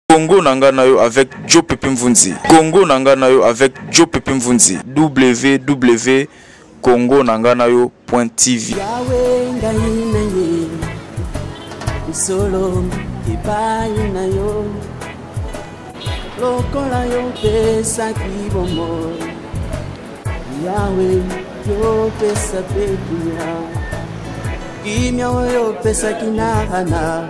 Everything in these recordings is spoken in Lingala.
Congo na nga na yo avec Joe Pepe Mvunzi. Congo na nga na yo avec Joe Pepe Mvunzi. www Congo na nga na yo point TV. Yahweh ngai na ye solo epai na yo lokola yo pesaki bomoi yawe yopesa mpe kimia kimia oyo opesaki na hana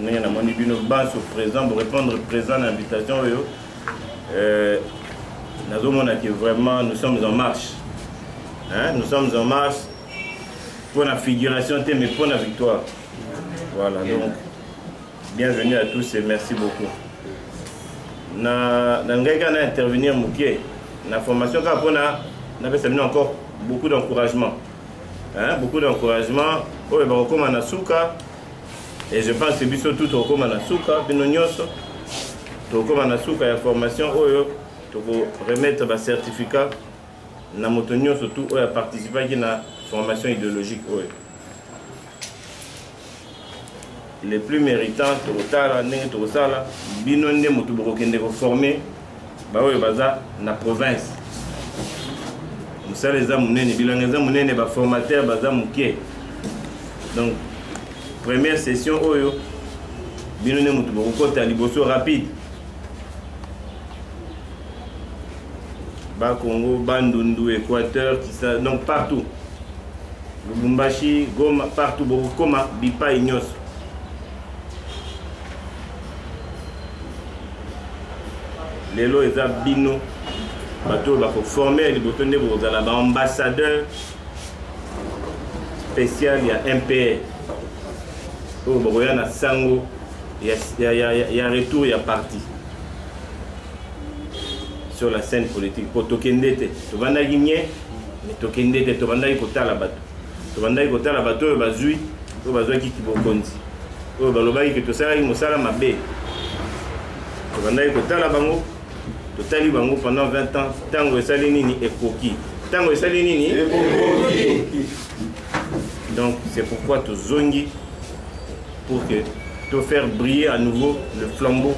ndenge namoni bino banso présent borépondre présent na invitation oyo euh, nazomona que vraiment nous sommes en marche hein? nous sommes en marche mpo na figuration te mais mpo na victoire voilà donc bienvenue à tous et merci beaucoup na, na ngai kaka na intervenir moke na formation kaka mpona napesa bino encore beaucoup d'encouragement hein? beaucoup d'encouragement oyo bakokoma na suka et je pense que biso tout tokokoma na suka bino nyonso tokokoma na suka ya formation oyo tokoremettre bacertificat na moto nyonso tout oyo aparticipaki na formation idéologique oyo le plus méritant tokotala ndenge tokosala bino nde moto bokokende koforme baoyo baza na province mosala eza monene bilanga eza monene baformateur baza moke donc première session oyo bino nde moto bokokota liboso rapide bakongo bandundu équateur kisa donc partout lubumbashi goma partout bokokoma bipai nyonso lelo eza bino bato oyo bakoforme ya liboso nde bokozala baambassadeur spécial ya mpr oyo bakoya na sango ya, ya, ya, ya retour ya parti sur la scène politique mpo tokende te tobandaki nye me tokende te tobandaki kotala bato tobandaki kotala bato oyo bazwi oyo bazwaki kibokonzi oyo balobaki ke tosalaki mosala mabe tobandaki kotala bango totali bango pendant 20 ans ntango esali nini ekoki ntango esali nini donc c'est pourquoi tozongi pour que to faire briller à nouveau le flambeau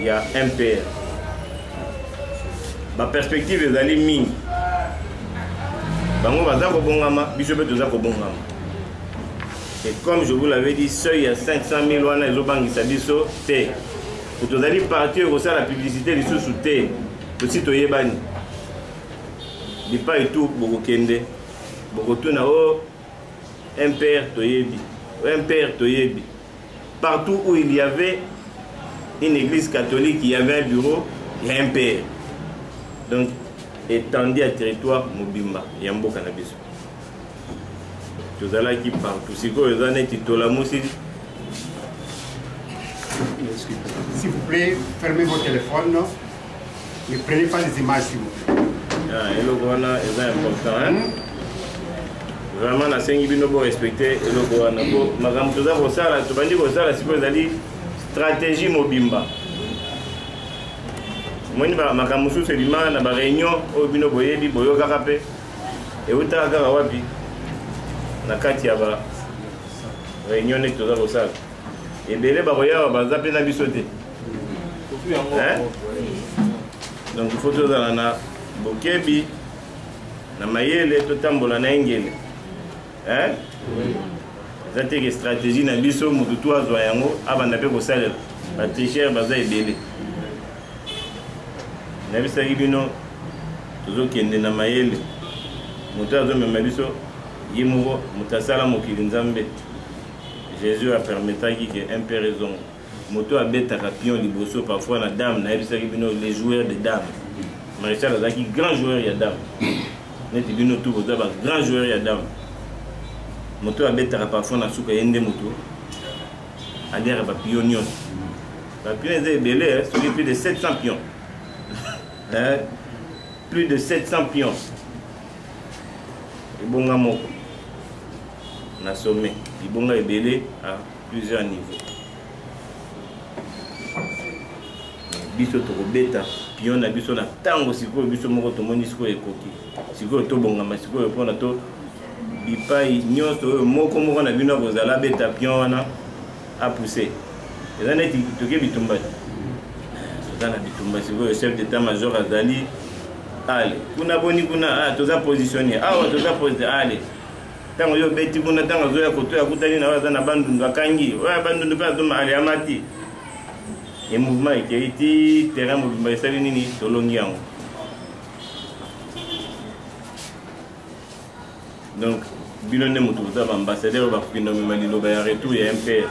ya mpr baperspective ezali mingi bango baza kobongama biso mpe toza kobongama Et comme je vous l'avais dit, seuil ya 500 000 wana ezobangisa biso te. Tozali parti oyo ekosala publicité lisusu te. Tosi toyebani. Bipai tu bokokende. Bokotuna o oh, MPR toyebi. O oh, MPR toyebi. Partout où il y avait une église catholique, il y avait un bureau, il y a un père. Donc, étendu à territoire Mobimba, il y a un beau cannabis. tozalaki partout sikoyo eza neti tolamusi S'il vous plaît, fermez vos téléphones. Ne prenez pas les images, s'il vous plaît. Ah, eloko wana eza important hein? Hmm? vraiment nasengi bino borespecte eloko wana po makambo toza kosala tobandi kosala sikoyo ezali stratégie mobimba omoni makambo mosusu ebima na bareunion oyo bino boyebi boyokaka mpe eutaka kaka wapi na kati ya ba réunion neti toza kosala ebele bakoyawa baza mpe na biso te donc il faut tozala na bokebi na mayele totambola na engele eza te ke stratégie na biso motu tu azwa yango abanda mpe kosalela batricheur baza ebele nayebisaki bino tozokende na mayele moto azomema biso ye moko moto asala mokili nzambe jésus apermetaki ke impere ezonga moto abetaka pion liboso parfois na dame nayebisaki bino les joueurs de dame maréchal azalaki grand joueur ya dame neti bino tu boza ba grand joueur ya dame moto abetaka parfois na suka ye nde moto aliaka bapion nyonso Ba pions eza ebele hein, soki plus de 700 pions. hein? Plus de 700 pions. Ebonga moko. Na sommet, libonga ebele à plusieurs niveaux. biso tokobeta pion na biso na ntango sikoyo biso moko tomoni sikoyo ekoki sikoyo tobongama sikoyo mpona to bipai nyonso oyo moko moko na bino akozala abeta pion wana a pousse eza neti toke bitumba toza na bitumba sikoyo chef d'état major azali ale kuna boni kuna ah, toza positionne awa ah, toza posi ale ntango yo obeti kuna ntango azoya koto akutani na oyo aza na bandundu akangi oyo ya bandundu mpe azoma ale amati e mouvement ekei ti terrain mobimba esali nini tolongi yango donc bino nde moto boza baambassadeur oyo bakoki nomema liloba ya retour ya mpr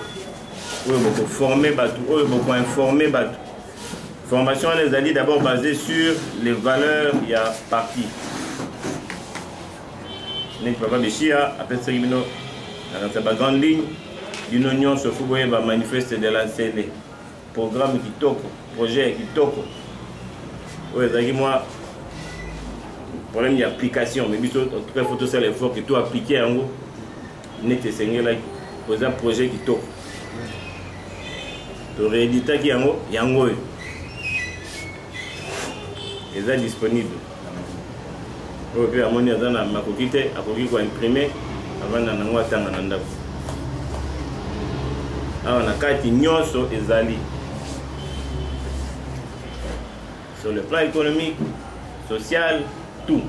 oyo bokoforme bato oyo bokoinforme bato formation wana ezali d'abord basé sur les valeurs ya parti neti papa beshia apesaki bino nakanisa bagrande ligne bino nyonso fo boyeba manifeste de la nsele Programme kitoko, projet ya kitoko. Oyo ezalaki mwa problème ya application, mais biso en tout cas faut tosala effort que to appliquer yango neti esengelaki. Oza projet kitoko. To rééditaki yango yango oyo. eza disponible oyo mpe amoni aza na makoki te akoki koimprime avanda nango atanga na ndako awa na kati nyonso ezali sur le plan économique social tout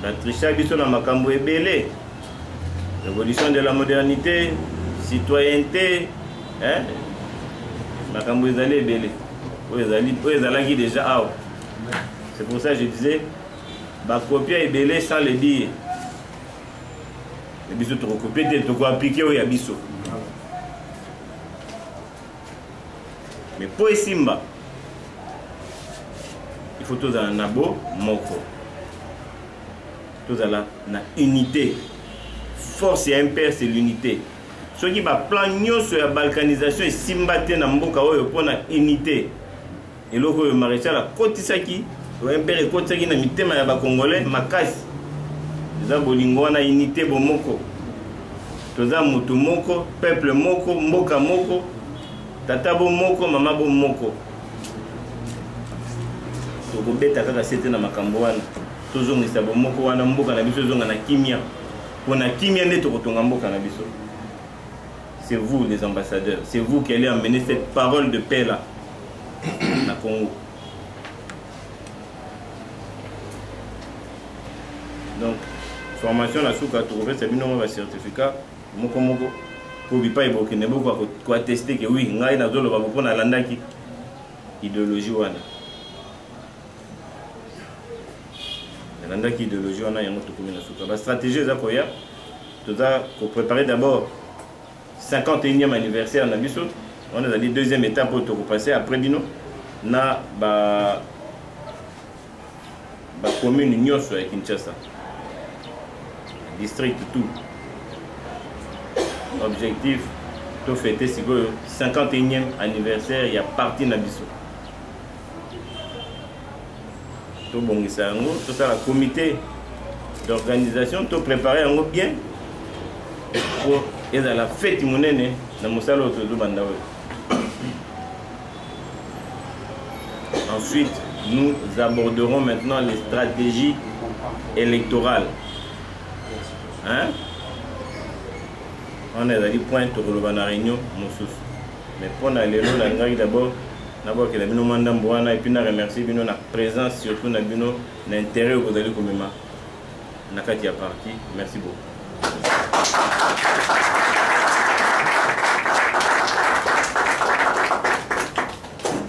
batrisha biso na makambo ebele révolution de la modernité citoyenneté hein? makambo ezali ebele oyo ezalaki déjà awa c'est pour ça je disais bakopia ebele sans le dire biso tokokopie te tokoaplike oyo ya biso mais mpo esimba il faut tozala na bo moko tozala na unité force ya mpr c'est l'unité soki baplan nyonso ya balkanisation esimba te na mboka oyo mpo na unité eloko oyo maréchal akotisaki oyo mpere ekotisaki na mitema ya bacongolais makasi eza bolingo wana unité bomoko toza motu moko peuple moko mboka moko tata bo moko mama bo moko tokobeta kaka sete na makambo wana tozongisa bomoko wana mboka na biso ezonga na kimia mpo na kimia nde tokotonga mboka na biso C'est vous les ambassadeurs, c'est vous qui allez amener cette parole de paix là na Congo. Donc formation na suka tokopesa bino mwa bacertificat moko moko mpo bipai bokende bokoka koateste ke wi ngai nazoloba bo mpo nalandaki ideologie wana nalandaki ideologie wana yango tokomi na suka bastratégie eza koya toza ko préparer d'abord 51e anniversaire na biso wana ezali deuxième étape oyo tokopase après bino na ba bacommune nyonso ya kinshasa district tout objectif tofete sikoyo 51e anniversaire ya parti na biso tobongisa yango tosala comité d'organisation to prépare yango bien mpo ezala feti monene na mosala oyo tozobanda oyo ensuite nous aborderons maintenant les stratégies électorales hein? wana ezali point tokoloba na réunion mosusu mais mpo na lelo nalingaki d'abord nabwakela bino mwa ndambo wana epuis na remercie bino na présence surtout na bino na intérêt oyo bozali komema na kati ya parti merci beaucoup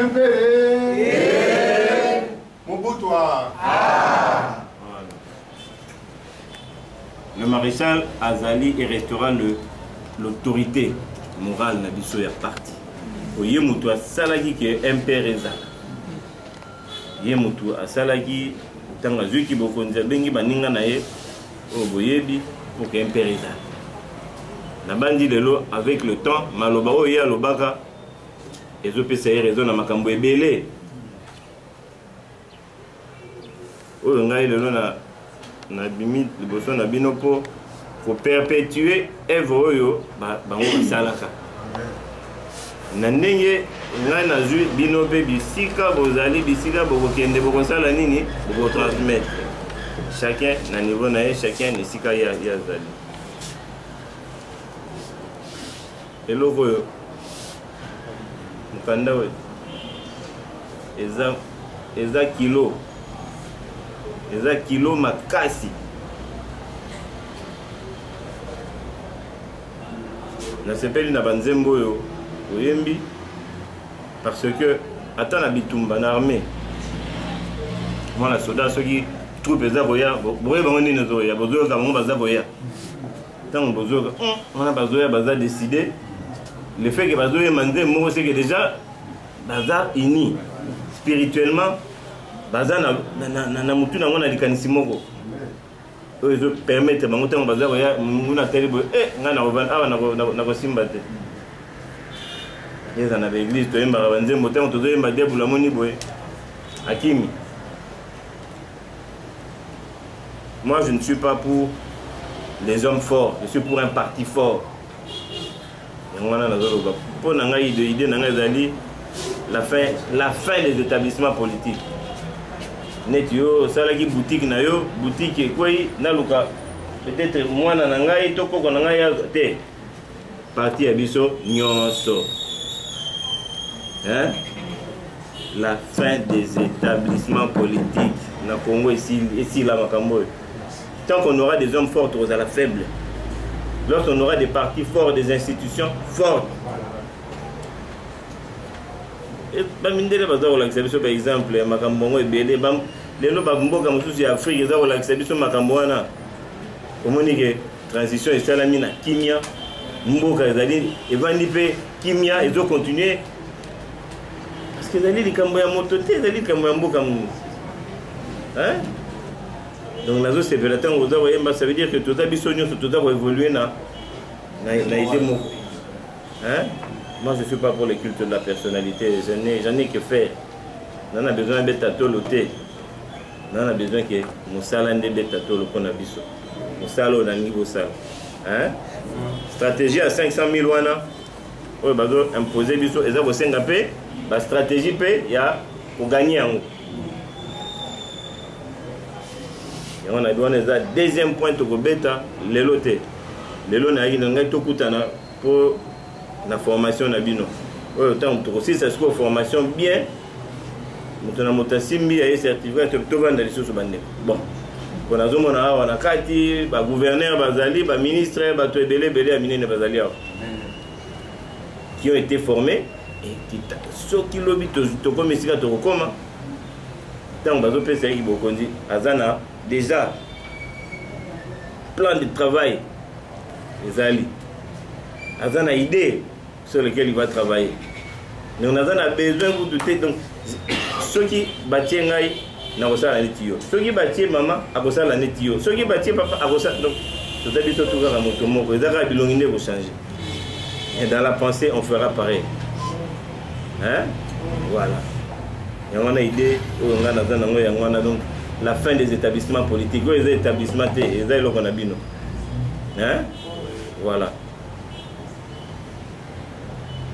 Impere. Eh. Mobutwa. Ah. Le maréchal Azali et restera l'autorité morale na biso ya parti. Oye mutu asalaki ke MPR ezala. Ye mutu asalaki ntango azwiki bokonzi abengi baninga na ye oyo boyebi pour que mpe reta nabandi lelo avec le temps maloba oyo ye alobaka ezopesa ye raison na makambo ebele oyo ngai lelo na nabimi liboso na bino mpo koperpetue evre oyo bango basalaka na ndenge ngai nazwi bino mpe bisika bozali bisika bokokende bokosala nini bokotransmettre chacun na niveau na ye chacun na esika ye azali eloko oyo mokanda oyo eza eza kilo eza kilo makasi nasepeli na banzembo oyo oyembi parce que ata na bitumba na armée mwana soda soki troupe eza koya boye bango nini ezoya bozoyoka bango baza koya ntango bozoyoka hmm, wana bazoya baza décide le fait ke bazoyema nzembo moko seke déjà baza uni spirituellement baza na, na, na, na, na mutu na yango na likanisi moko oyo ezo permettre bango ntango baza koya monguna atali boye e ngai nakovanda awa nakosimba te eza na baeglise toyembaka banzembo ntango tozoyemba diabulu amoni boye akimi moi je ne suis pas pour les hommes forts je suis pour un parti fort yango wana nazoloba mpo na ngai de idée na ngai ezali la fin, la fin des établissements politiques neti yo osalaki boutique na yo boutique ekwei naluka peut-être mwana na ngai to koko na ngai te parti ya biso nyonso hein? la fin des établissements politiques na congo esila makambo oyo Tant qu'on aura des hommes forts, on sera faible. Lorsqu'on aura des partis forts, des institutions fortes. bamindele baza kolakisa biso baexemple ya makambo yango ebele lelo bamboka mosusu ya afrike eza kolakisa biso makambo wana omoni ke transition esalami na kimia mboka ezali evandi mpe kimia ezokontinue parce que ezali likambo ya moto te ezali likambo ya mboka munu donc nazosepela ntango oza koyemba ça veut dire que toza biso nyonso toza koévolue na na idée moko hein moi je suis pas pour le culte de la personnalité j'en ai que faire na na besoin abeta tolo te na na besoin ke mosala nde ebeta tolo mpo na biso mosala oyo nalingi bosala hein stratégie ya 500 000 wana oyo bazo impose biso eza kosenga mpe bastratégie mpe ya koganye yango yango na wana eza deuxième point tokobeta lelo te lelo nayaki na ngai tokutana mpo na formation na bino oyo ntango tokosilisa sikoyo formation bien moto na moto asimbi aye certificat tovanda lisusu bandeko bon mpo nazomona awa na kati bagouverneur bazali baministre bato ebele ebele ya minene bazali awa qui ont été formés ekita soki lobi tokomi esika tokokoma ntango bazopesa ye bokonzi aza na déjà plan de travail ezali aza na idée sur lequel il va travailler donc naza na besoin kutu te donc soki batie ngai nakosala neti yo soki batie mama akosala neti yo soki batie papa akosala donc toza biso tu kaka moto moko eza kaka bilongi nde ekochange et dans la pensée on fera pareil hein voilà yango wana idée oyo ngai naza nango yango wana donc la fin des établissements politiques oyo eza établissement te eza eloko na bino hein voilà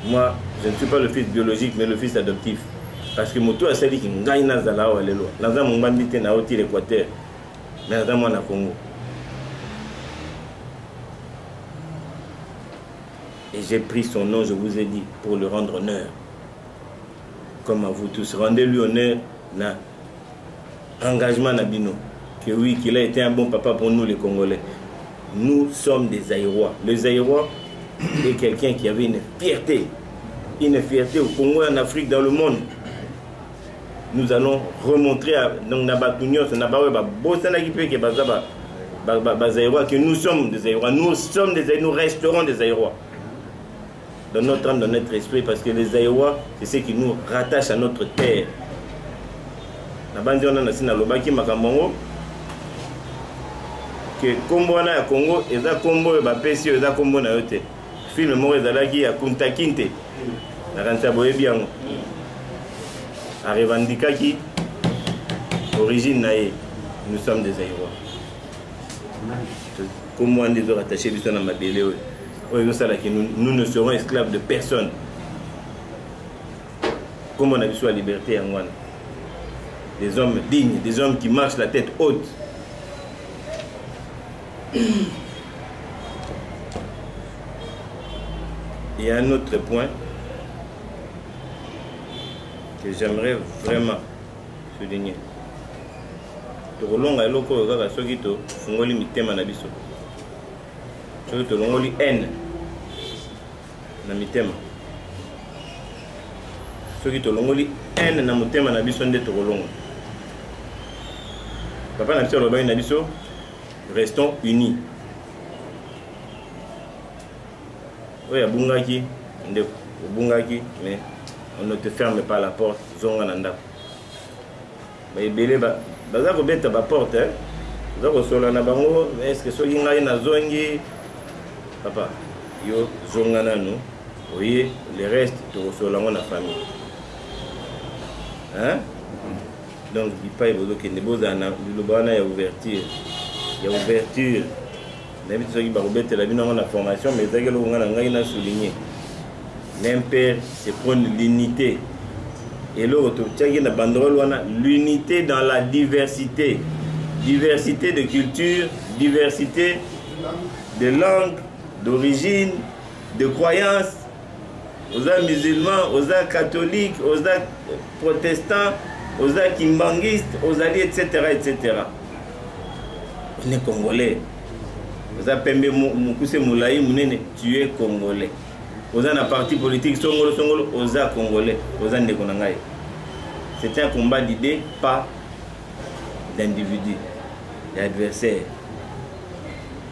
moi je ne suis pas le fils biologique mais le fils adoptif parce que moto oyo asaliki ngai nazala awa lelo naza mongbandi te na oti l'équateur mais naza mwana congo et j'ai pris son nom je vous ai dit pour le rendre honneur comme à vous tous rendez lui honneur na engagement na bino que oui qu'il a été un bon papa pour nous les congolais nous sommes des aérois le zaïrois est quelqu'un qui avait une fierté une fierté au congo et en afrique dans le monde nous allons remontrer à, donc na bato nyonso na baoyo babosanaki mpe ke baza bazaïrois que nous sommes des aérois nous sommes des nous resterons des aérois dans notre âme, dans notre esprit, parce que les Aïwa, c'est ce qui nous rattache à notre terre. La bande on a sina lobaki makambo que combo wana ya Congo eza combo ya bapesi yo eza combo na yo te film moko ezalaki ya Kunta Kinte nakanisa boyebi yango arevandikaki origine na ye nous sommes des Aïwa kombo wana ezo rattache biso na mabele oyo oyo ezosalaki nous ne serons esclaves de personne nkombo na biso ya liberté yango wana des hommes dignes des hommes qui marchent la tête haute il y a un autre point que j'aimerais vraiment souligner tokolonga eloko oyo kaka soki tofungoli mitema na biso soki tolongoli haine na mitema soki tolongoli haine na motema na biso nde tokolongola papa na biso alobaki na biso restons unis oyo abungaki ndeko obungaki mais on ne te ferme pas la porte zonga na ndako ba ebele ba baza kobeta ba porte hein? oza kosola na bango eske soki ngai nazongi papa yo zonga nanu oye le reste tokosola yango na famille hein? donc bipai bozokende bozala na liloba wana ya ouverture ya ouverture nayebi te soki bakobetela bino yango na formation mais ezalaki eloko ngai na ngai na souligne l'impere se prone l'unité eloko totiaki na bandrole wana l'unité dans la diversité diversité de culture diversité de langue d'origine de croyance oza musulman oza catholique oza protestant oza kimbanguiste ozali etc etc ne congolais oza pembe mokuse molai monene tu es congolais oza na parti politique songolo songolo oza congolais oza ndeko na ngai c'est un combat d'idée pas d'individu ya adversaire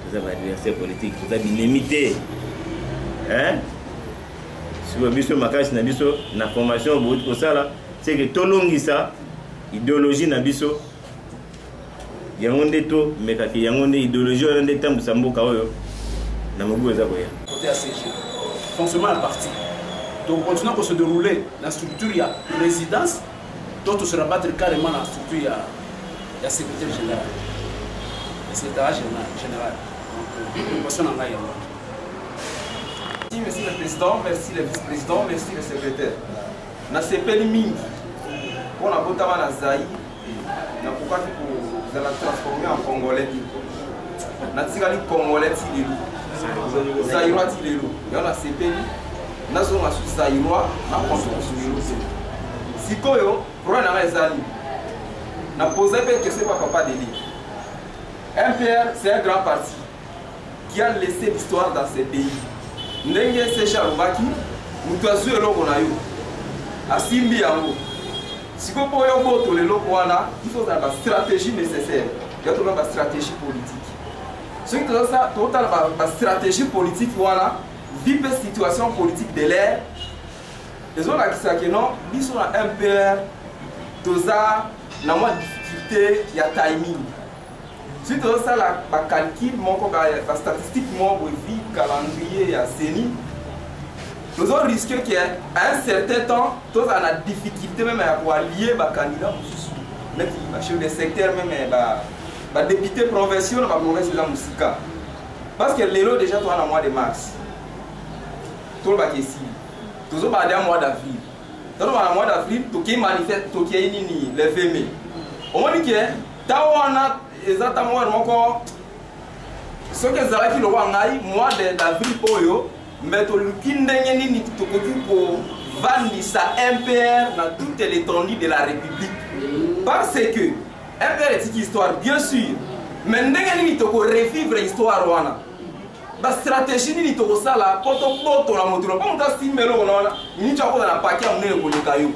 toza ba adversaire politique toza binemi te sikoyo biso makasi na biso na formation bouti kosala seke tolongisa ideologie na biso yango nde tomekaki yango nde ideologie wana nde etambwisa mboka oyo na mobu eza koya fonctionnement ya parti tokocontinue kose déroule na structure ya résidence to to se rabattre carrément na structure ya ya secrétaire général ya secrétariat général général préoccupation na ngai yango merci le président merci le vice président merci le secrétaire nasepeli mingi mpo nabotama na zai nakokaki kozala transforme en congolais natikali congolais ti lelo zairwa ti lelo yango nasepeli nazonga susu zairoi nakonsoka suyelo te sikoyo problème na ngai ezali na posa mpe question pa papa deli mpr c'est un grand parti qui a laissé l'histoire dans ce pays ndenge seche alobaki moto azwi eloko na yo asimbi yango sikoyo mpo yo obotola eloko wana il faut ozala bastratégie nécessaire ya tolona bastratégie politique soki totala bastratégie politique wana vie mpe situation politique de l'air ezolakisa ke non biso na mpr toza na mwa difficulté ya timing soki tozosala bacalcule moko bastatistique moko boye vi calendrier ya ceni tozo risque ke à un certain temps tozala na difficulté meme ya koalie bacandidat mosusu neti bachef de secteur meme badepute provinciaux na baprovince eza mosika parce que lelo déjà toza na mois de mars tolobaka esili tozobala deja mois d'avril tozobala na mois d'avril tokei manifeste tokei nini le 20 mai omoni ke ntango wana eza ntango wana moko soki ezalaki lokola ngai mois d'avril oyo me toluki ndenge nini tokoki kovandisa mpr na toute l'étendue de la république parce que rdr etiki histoire bien sûr mais ndenge nini toko revivre histoire wana bastratégie nini tokosala mpo tobotola moto na mpo moto asimba eloko na wana miniti akota na paki ya monene koleka yo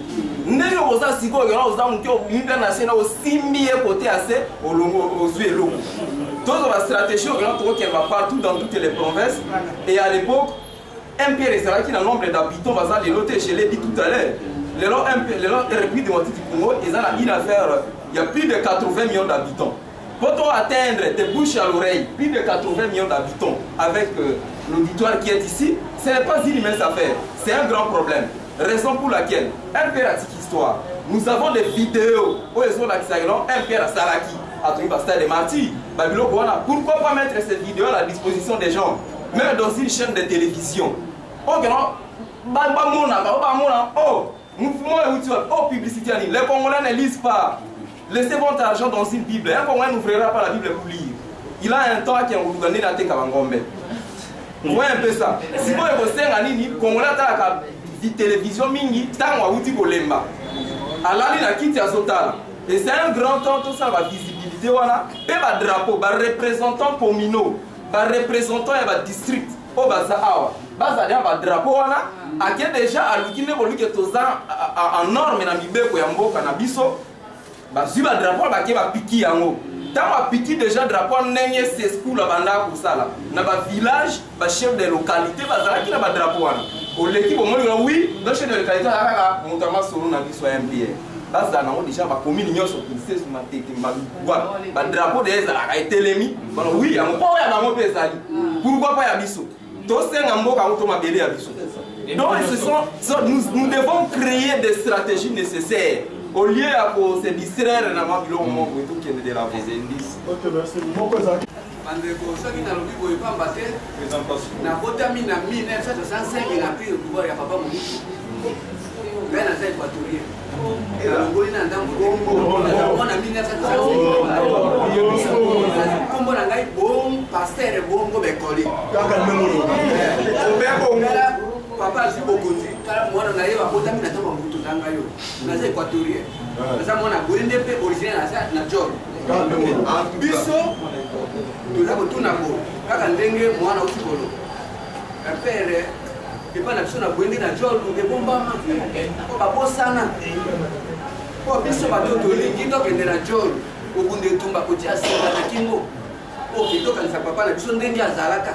ndenge okoza sikoyo kena oza moke obimi mpe na se na osimbi ye kote ya se olongo ozwi eloko tozwa bastratégie okena tokokende bapartout dans toutes les provinces et à l'époque mpr ezalaki na nombre d'habitants baza lelo te je l'ai dit tout à l'heure lelo lelo république démocratique du congo eza na une affaire ya plus de 80 millions d'habitants mpo to atteindre de bouche à l'oreille plus de 80 millions d'habitants avec euh, l'auditoire qui est ici ce n'est pas une mince affaire c'est un grand problème raison pour laquelle mpr atiki histoire nous avons des vidéos oyo ezolakisa elo mpr asalaki atoki bastade martyr babiloko wana pourquoi pas mettre cette vidéo à la disposition des gens meme dans une chaîne de télévision okeno bamonaka o bamona o mouvement euti wapi o publicité ya nini les congolais ne lisent pas laissez votre argent dans une bible un congolais n'ouvrira pas la bible pour lire il a un temps akenguluka nde nateka bangombe moye mpe sa sikoyo kosenga nini congolais atalaka télévision mingi ntango awuti kolemba alali na kiti azotala et c'est un grand temps tosala bavisibilité wana mpe badrapeau barepresentant communaux ba representant ya ba district oyo baza awa bazali na badrapo wana ake deja aluki nde boluke toza en norme na mibeko ya mboka na biso bazwi badrapo wana bake bapiki yango ntango apiki deja drapo wana ndenge seskoul abandaka kosala na bavillage bachef de localité bazalaki na badrapo wana oleki bomoni wana wi no chef de localité azalaka moto ya masolo na biso ya mpr bazala nango deja bakomini nyonso kinsesu matete mbalukwa badrapo deja ezalaka etelemi bana wi yango mpo ya bango mpe ezali mm. pourkoi mpo ya biso tosenga mboka yango to mabele ya biso donc ce sont, sont, nous, nous devons créer des stratégies nécessaires au lieu ya ko se distraire na mwa biloko moko etokende de la bandeko soki nalobi boye pamba te nabotami na 1965 na pire pouvoir ya papa mobutu ngai naza equatorien nalongoli na ndambo na 1965 kombo na ngai bom paster bongo bekoli papa azwi bokonzi tala mwana na ye babotami na ntango ya mobutu tanga yo naza equatorien naza mwana boye nde mpe originaire naza na jor biso toza kotuna bo kaka ndenge mwana uti kolo mpere epai na biso na boye nde na jolu ebombama mpo babosana mpo biso bato tolingi tokende na jolu kobunda etumba kotia singa na kingo oke tokanisa papa na biso ndenge azalaka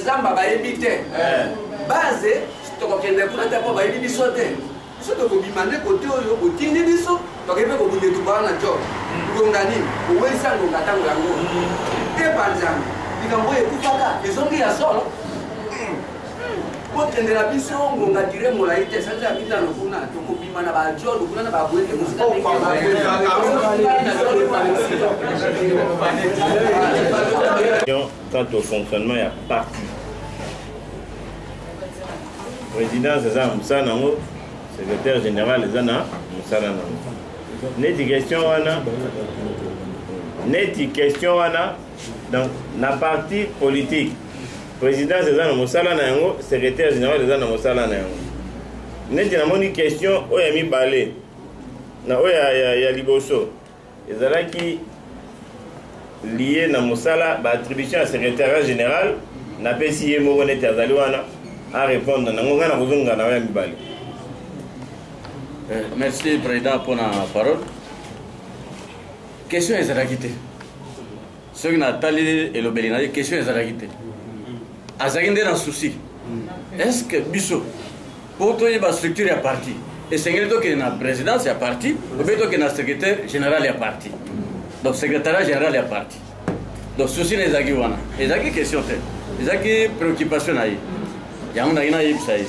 zamba bayebi te eh. base tokokende kuna te mpo bayebi biso te biso tokobima nde kote oyo botindi biso tokoki mpe kobunda tubaa na jo ngonga nini owelisa ngonga ntango yango te banzambe likambo oyo ekufaka ezongi ya solo kokendela biso ngonga dire molai te sanza ya mitano kuna tokobima na bajolo kuna na babwete mosika quant au fonctionnement ya parti présidence eza na mosala nango secrétaire général eza na mosala nango neti question wana neti question wana donc na parti politique présidence eza na mosala na yango secrétaire général eza na mosala na yango neti namoni question oyo ya mibale na oyo ya, ya, ya liboso ezalaki liye na mosala baattribution ya secrétariat général napesi ye moko neti azali wana arépondre nango ngai nakozonga na yo ya mibale eh, merci président mpona parole question ezalaki te soki natali elobeli na ye question ezalaki te azalaki nde na souci est ce que biso mpo toyeba structure ya parti esengeli tokende na présidence ya parti obe tokende na secrétaire général ya parti donc secrétariat général ya parti donc souci na ezalaki wana ezalaki question te ezalaki préoccupation na ye yango nayaki nayebisa ye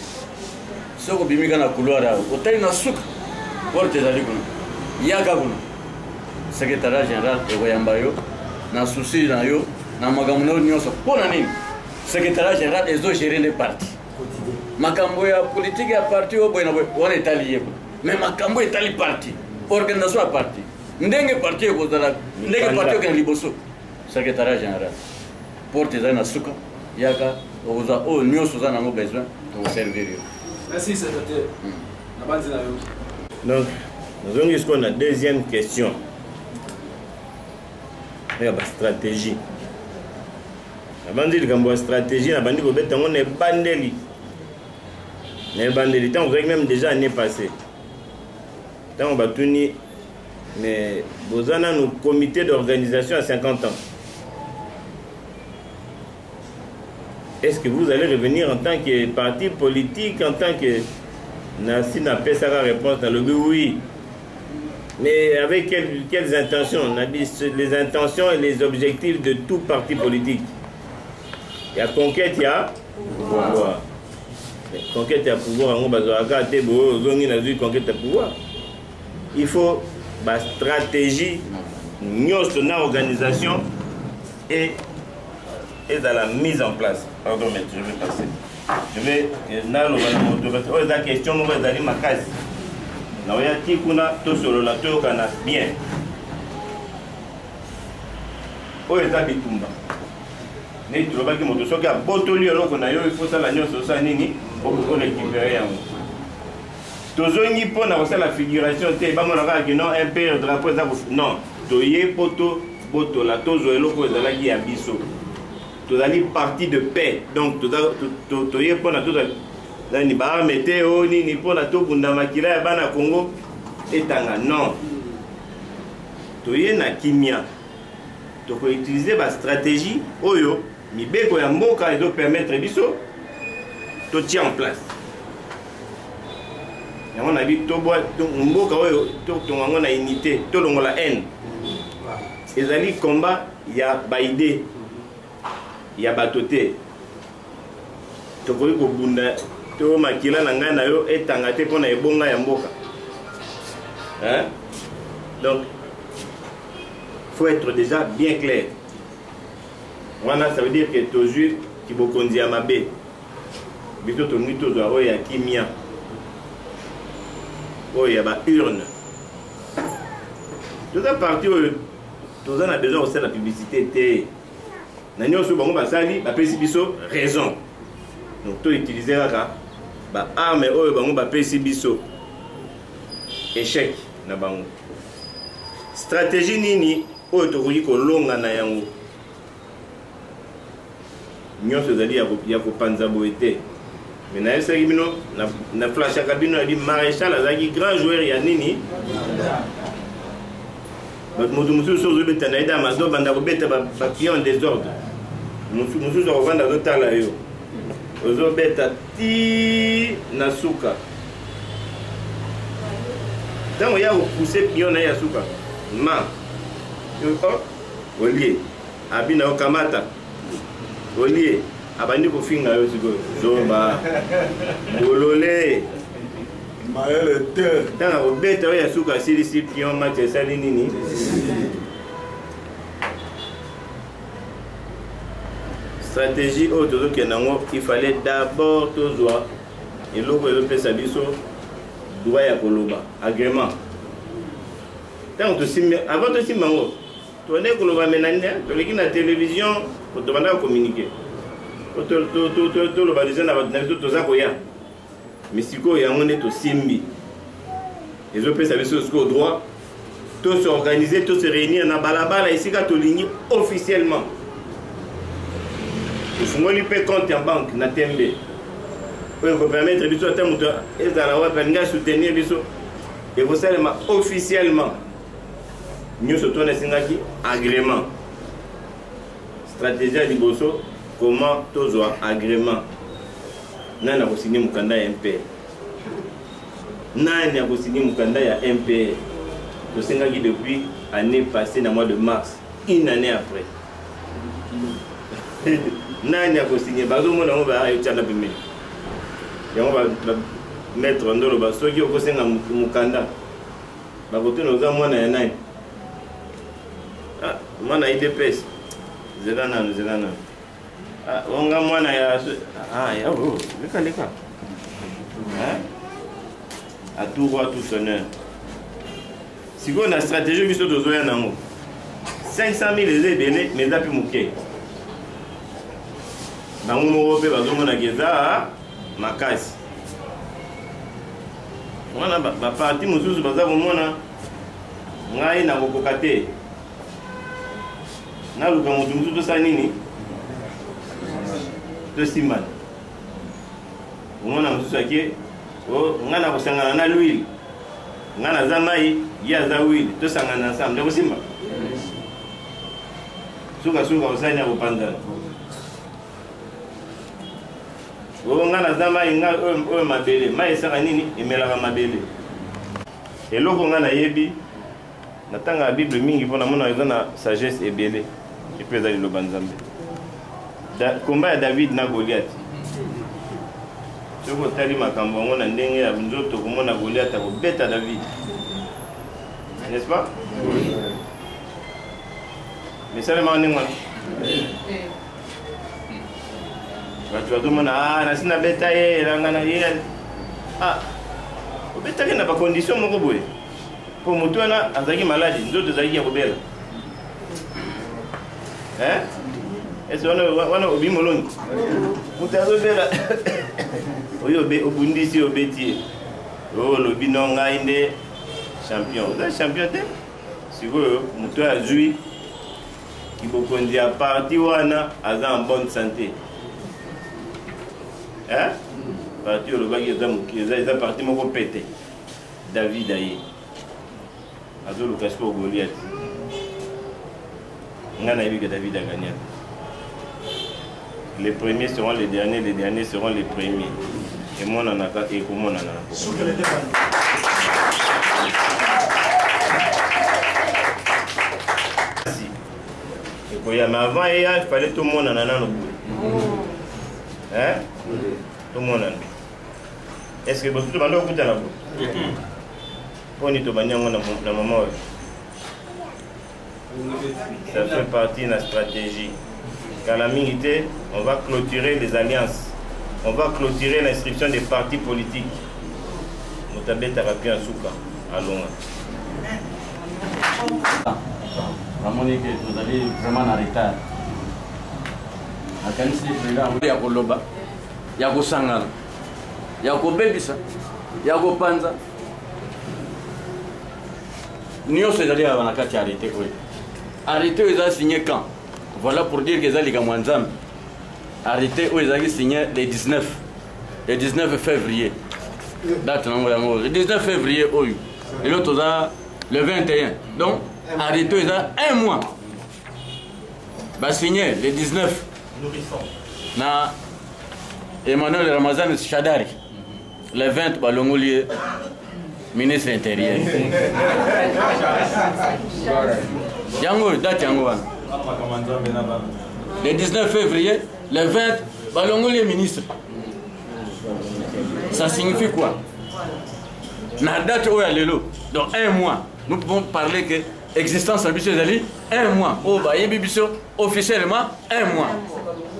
soki obimi ka na couloir awa otali na suka porte ezali kuna yaka kuna secrétariat général ekoyamba yo na souci na yo na makambo na yo nyonso mpo na nini secrétariat général ezogere nde parti makambo ya politike ya parti oyo boye na boye wana etali ye kuna mais makambo etali parti organisation ya parti ndenge parti ekozala ndenge parti okenda liboso secrétariat général porte eza na suka yaka okozwa oyo nyonso oza nango besoin tokoservir yo merci secrétaire hmm. nabanzi na yo donc nazongi sikoyo na deuxième question ya bastratégie nabanzi likambo ya stratégie nabandi kobeta yango na ebandeli na ebandeli ntango ozalaki meme déjà année passé ntango batuni mais boza nanu comité d'organisation ya 50 ans est ce que vous allez revenir en tant que parti politique en tant que nasi napesaka réponse nalobi oui mais avec quelles, quelles intentions on a dit les intentions et les objectifs de tout parti politique il y a conquête il y a pouvoir, pouvoir. conquête ya pouvoir yango bazwaka te boye ozongi nazwi conquête ya pouvoir il faut ba stratégie nyonso na organisation et ezala mise en place pardon mais je vais passer je vais naloba na moto parce oyo eza question moko ezali makasi naoya ti kuna tosolola toyokana bien oyo eza bitumba neti tolobaki moto soki abotoli eloko na yo ifosala nyonso osala nini okoki korekipere yango tozongi mpo na kosala figuration te bamona kaka ke non impere drapeau eza non toye mpo tobotola tozwa eloko ezalaki ya biso tozali parti de paix donc toye mpo na tozwa nani baarme te o oh, nini mpo na tobunda makila ya bana congo etanga non toye na kimia tokoutilize bastratégie oyo mibeko ya mboka ezopermettre biso totia en place yango nayebi tobwa mboka oyo totonga yango na unité tolongola haine ezali combat ya baide ya bato te tokoki kobunda to makila na ngai na yo etanga te mpo na ebonga ya mboka hein? donc faut être déjà bien clair wana ça veut dire que tozwi kibokonzi ya mabe biso tolingi tozwa oyo ya kimia oyo ya baurne toza parti oyo toza na besoin kosala publicité te na nyonso bango basali bapesi biso raison donc toutilize kaka baarme oyo bango bapesi biso échec na bango stratégie nini oyo tokoki kolonga na yango nyonso ezali ya kopanza boye te me nayebisaki bino na flashaka bino yadi maréchal azalaki grand joueur ya nini bato moto mosusu ozobeta na ye dama azobanda kobeta bapion desordre mosusu akofanda azotala yo ozobeta ti na suka ntango ya kopuse pion na ye ya suka ma olie abina yo kamata olie abandi kofinga yo sikoyo zoba bolole mayele te ntanga kobeta oyo ya suka asilisi pion match esali nini stratégie oyo tozokende yango il fallait d'abord tozwa eloko ezopesa biso droit ya koloba agrément ntango tosimbi avant tosimba yango tobandaki koloba menande toleki na televizio tobandaka communiquer toloba deja na bato na biso toza koya mi sikoyo yango nde tosimbi ezopesa biso sikoyo droit to se organiser to se réunir na balabala esika tolingi officiellement tofungoli mpe compte ya banque na tembe oyo ekopermettre biso ata moto ezala wapi alingi asoutenir biso ekosalema officiellement nyonso tona esengaki agrément stratégie ya liboso comment tozwa agrément nani akosigne mokanda ya mpe nani akosigne mokanda ya mpe tosengaki depuis année passée na mois de mars une année après nani akosinye bazomona yango baetiana pembeni yango maître ndoloba soki okosenga mokanda bakotuna oza mwana ya nani ah, mwana ya idps zela nanu zela nanu ah, onga mwana ya ah, ya oh, leka leka atour wa tout sonneur sikoyo na stratégie biso tozoya nango 500 000 eza ebele mais eza mpe moke bango moko mpe bazomonaka eza makasi wana baparti mosusu baza komona ngai nakokoka te naluka moto mosusu tosala nini tosimbana omona mosusu ake oh, ngai nakosangana na lwile nga naza mai ye aza wili tosangana ensemble ekosimba sukasuka osani ya kopanzana oyo nga naza mai nga oyo mabele mai esaka nini emelaka mabele eloko nga nayebi natangaka bible mingi mpo namona eza na sagesse ebele epe eza liloba nzambe komba ya david na goliat soki otali makambo yango na ndenge ya nzoto okomona goliat akobeta david n'est-ce pas misalemaka ndenge wana bato bazomona ah, nasi nabeta ye elanga na ye ah, obetaki na bakondition moko boye mpo moto wana azalaki maladi nzoto ezalaki ya kobela ese wana obi moloni moto azobela oyo obundisi obeti ye oyo olobi no ngai nde champion oza champion te sikoyo moto oyo azwi kibokonzi ya parti wana aza en bonne santé parti olobaki eza parti moko pete David aye azoluka sikoyo Goliath nga nayebi ke David agagnaki les premiers seront les derniers les derniers seront les premiers emonanaka ekomonana ekoya mais avant eya fallait tomonana nano boye tomonana est ce que bosusu tobanda kokutana bo mponi tobandi yango na mama oyo ça fait partie na stratégie kala mingi te on va clôturer les alliances on va clôturer l'inscription des partis politiques moto abetaka mpe ya suka alonga namoni ke tozali vraiment na retard nakanisi ya koloba ya kosangana ya kobebisa ya kopanza nyonso ezali awa na kati ya arrete oyo arrete oyo eza signe camp voilà pour dire que eza likambo ya nzambe arrete oyo ezalaki signe le 19 le 19 février date nango yango le 19 février oyo lelo toza le 21 donc arrete oyo eza un mois basigne le 19 na emmanuel ramazan shadari le 20 balongoli ye ministre intérieur yango oyo date yango wana le 19 février le 20 balongoli ye ministre ça signifie quoi na date oyo ya lelo dans un mois nous pouvons parler que existence na biso ezali un mois oyo bayebi biso officiellement un mois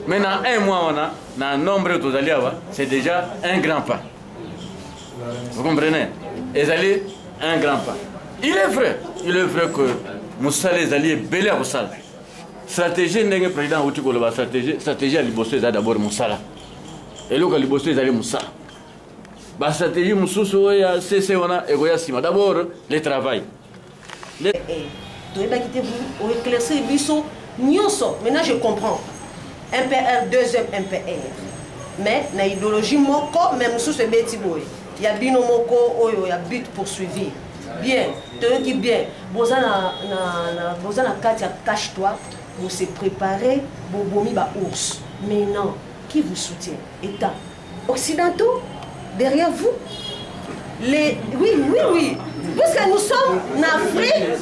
mais na un mois wana na nombre oyo tozali awa c'est déjà un grand pas vous comprenez ezali un grand pas il est vrai il est vrai que mosala ezali ebele ya kosala stratégie ndenge président auti koloba stratégie stratégie ya liboso eza d'abord mosala eloko ya liboso ezali mosala bastratégie mosusu oyo ya cc wana ekoya nsima d'abord le travail eh, eh, toyebaki te oeclaircir biso nyonso maintenant je comprends mpr deuxième mpr mais na idéologie moko mais mosusu ebeti boye ya bino moko oyo ya but poursuivi bien toyoki bien boza na, na, na, boza na kati ya cache toi bose prépare bobomi baours mais non qui vous soutient état occidentaux derrière vous les oui oui oui parce que nous sommes en Afrique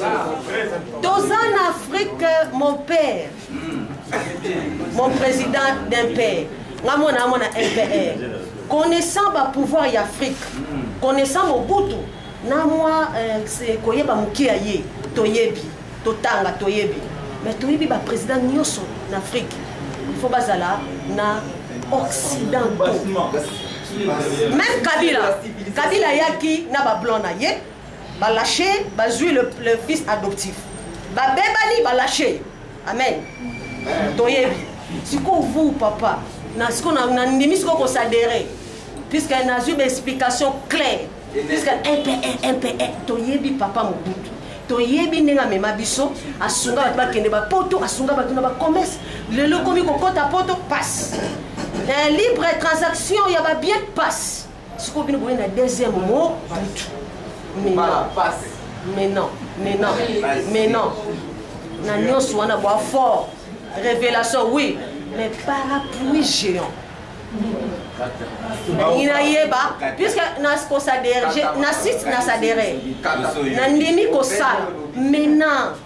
dans un Afrique mon père mon président d'un père nga mwana mwana MPR connaissant ba pouvoir ya Afrique connaissant Mobutu na mwa euh, koyeba moke ya ye toyebi totanga toyebi mais toyebi ba président nyoso na Afrique il faut bazala na occidentaux même Kabila Kabila yaki na ba blanc na ye ba lâcher bazui le, le fils adoptif ba bebani ba lâcher amen toyebi sikoyo vous papa na sikoyo nandimi sikoyo kosadere puisque nazwi baexplication claire Puisque MPR, toyebi papa Mobutu. toyebi ndenge amema biso asunga bato bakende bapoto asunga bato na bacommerce lelo okomi kokɔta poto passe eh, libre transaction ya babien passe sikoyo bino boye na deuxième mo butu mais non mais non mais non mais non na nyonso wana bwa fort révélation oui mais parapluie géant nalingi nayeba puiske nakosadere na site nasadere nandimi kosala maintenant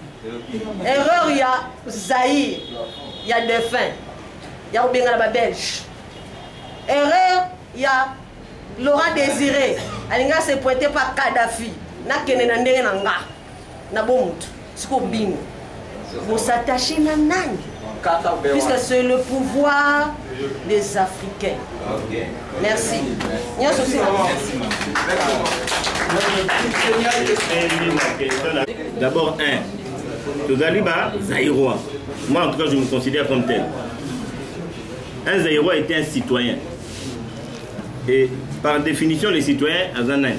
erreur ya zaire ya defin ya kobengana babelge erreur ya laurent désiré alingi asepointe pa kadafi nakende na ndenge na nga na bo mutu siko bino bo s'attacher na nani puisque c'est le pouvoir des africains okay. merci nyonso si d'abord un tozali ba zairois moi en tout cas je me considère comme tel un zairois était un citoyen et par définition les citoyens aza nani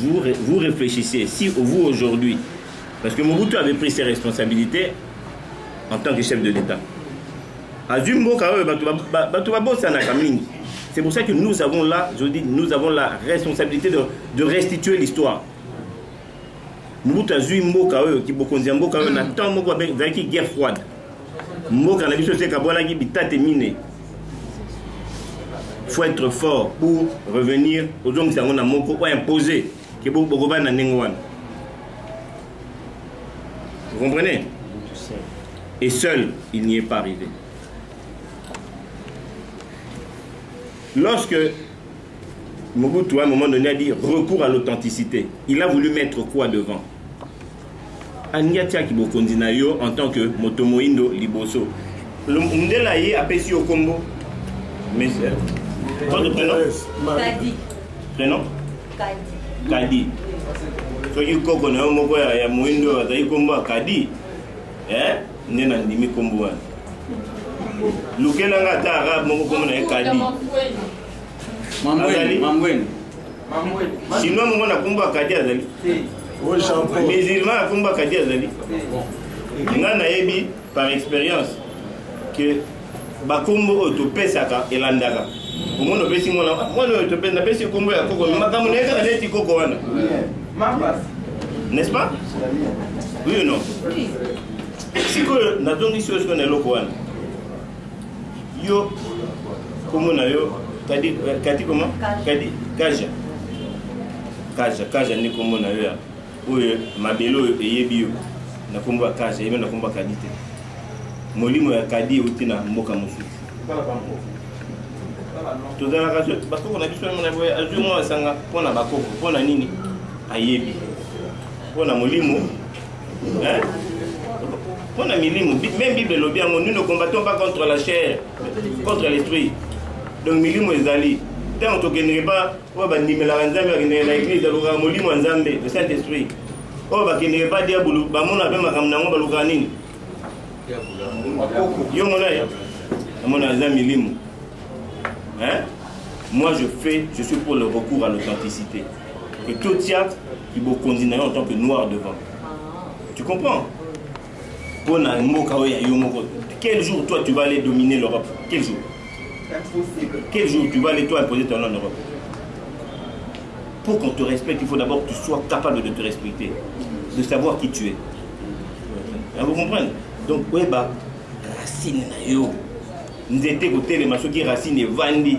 Vous, vous réfléchissez, si vous aujourd'hui, parce que Mobutu avait pris ses responsabilités en tant que chef de l'État. azwi mboka oyo bato babosanaka mingi c'est pour ça que nous avons là je dis nous avons la responsabilité de, de restituer l'histoire mobutu azwi mboka oyo kibokonzi ya mboka oyo na temps moko ezalaki guerre froide mboka na biso se ekabwanaki bitate mine faut être fort pour revenir ozongisa yango na moko oyo impose ke bokobana na ndenge wana vous comprenez et seul il n'y est pas arrivé lorsque Mobutu à un moment donné a dit recours à l'authenticité il a voulu mettre quoi devant alingi atiaki bokonzi na yo en tant que moto moindo liboso mundela ye apesi yo kombo monsieur votre prénom kadi prénom kadi kadi soki koko na yo moko ya moindo oyo azali kombo ya kadi eh, nde nandimi kombo wana lukela nga ata arabe moko kombo na ye kadi azali chinois mongo na kumba akadi azali musulman ya kumba akadi azali ngai nayebi par expérience que bakombo oyo topesaka elandaka omona opesi mwana mwana oyo topesi napesi kombo ya koko makambo na ye kaka neti koko wana n'est-ce pas oui ou non sikoyo nazongisi yo sikoyo na eloko wana yo kombo na yo kadi eh, kadi koma kadi kaja kaja kaja nde kombo na yo ya oyo mabele oyo eyebi yo na kombo ya kaja eyebi na kombo ya kadi te molimo ya kadi euti na mboka mosusu tozalaka bakoko na biso mona boye azwi mwa asanga mpo na bakoko mpo na nini ayebi mpo na molimo hein? mpo na milimu meme bible elobi yango nous ne combattons pas contre la chair contre l'esprit donc milimu ezali ntango tokendeke ba oyo bandimelaka nzambe bakendeke na eglise alukaka molimo ya nzambe le saint esprit oyo bakendeke ba diabulu bamona mpe makambo na yango balukaka nini yo mona ye amona aza milimu moi je fais je suis pour le recours à l'authenticité que tout tiat ibokonzi na yo en tant que noir devant tu comprends mpo na mboka oyo ya yo moko quel jour toi tu vas aller dominer l'europe quel jour Impossible. quel jour tu vas aller toi imposer ton nom en europe pour qu'on te respecte il faut d'abord que tu sois capable de te respecter de savoir qui tu es Ah, vous comprenez donc oyeba racine na yo nzete kotelema soki racine evandi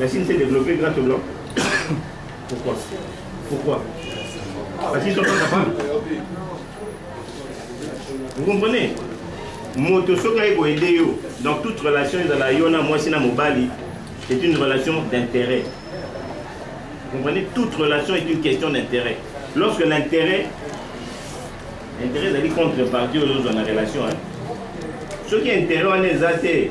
La Chine s'est développée grâce aux Blancs. Pourquoi Pourquoi Parce qu'ils sont pas capables. Vous comprenez moto soki aye koyede yo donc toute relation ezala yo na mwasi na mobali c'est une relation d'intérêt vous comprenez toute relation est une question d'intérêt lorsque l'intérêt intérêt ezali contrepartie oyo ozozwa na relation soki intérêt wana eza te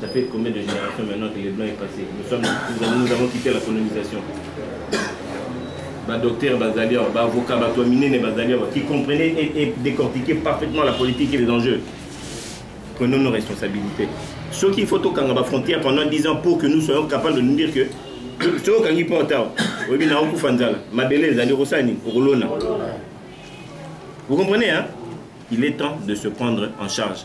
Ça fait combien de générations maintenant que les Blancs est passé nous, sommes, nous, avons, nous avons quitté la colonisation. badocteur bazali awa baavocat bato ya minene bazali awa qui comprenait et, et décortiquer parfaitement la politique et les enjeux prenons nos responsabilités soki il faut tokanga bafrontière pendant 10 ans pour que nous soyons capables de nous dire que soki okangi mpo ata oyebi na okufa nzala mabele ezali okosala nini okolona vous comprenez hein? il est temps de se prendre en charge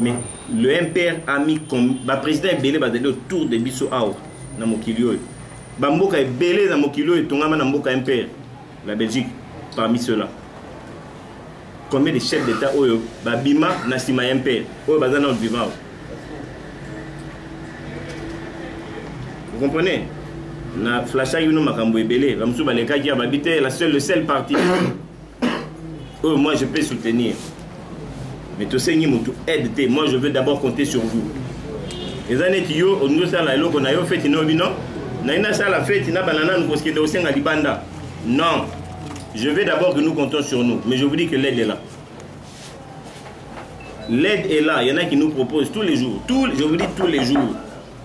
mais le mpr a mis baprésident ebele bazali autour de biso awa na mokili oyo bamboka ebele na mokili oyo etongama na mboka mpr la belgique parmi ceux-là combien de chefs d'état oyo babima na nsima ya mpr oyo baza nano vivant awa vous comprenez na flashaki bino makambo ebele bamosusu balekaki ya babi te la seule le seul parti oyo moi je peux soutenir mais tosengi motu aide te moi je veux d'abord compter sur vous eza neti yo olingi osala eloko na yo feti no bino naye nasala feti na bana nanu kosikende osenga libanda non je veux d'abord que nous comptons sur nous mais je vous dis que l'aide est là l'aide est là il y en a qui nous proposent tous les jours tous, je vous dis tous les jours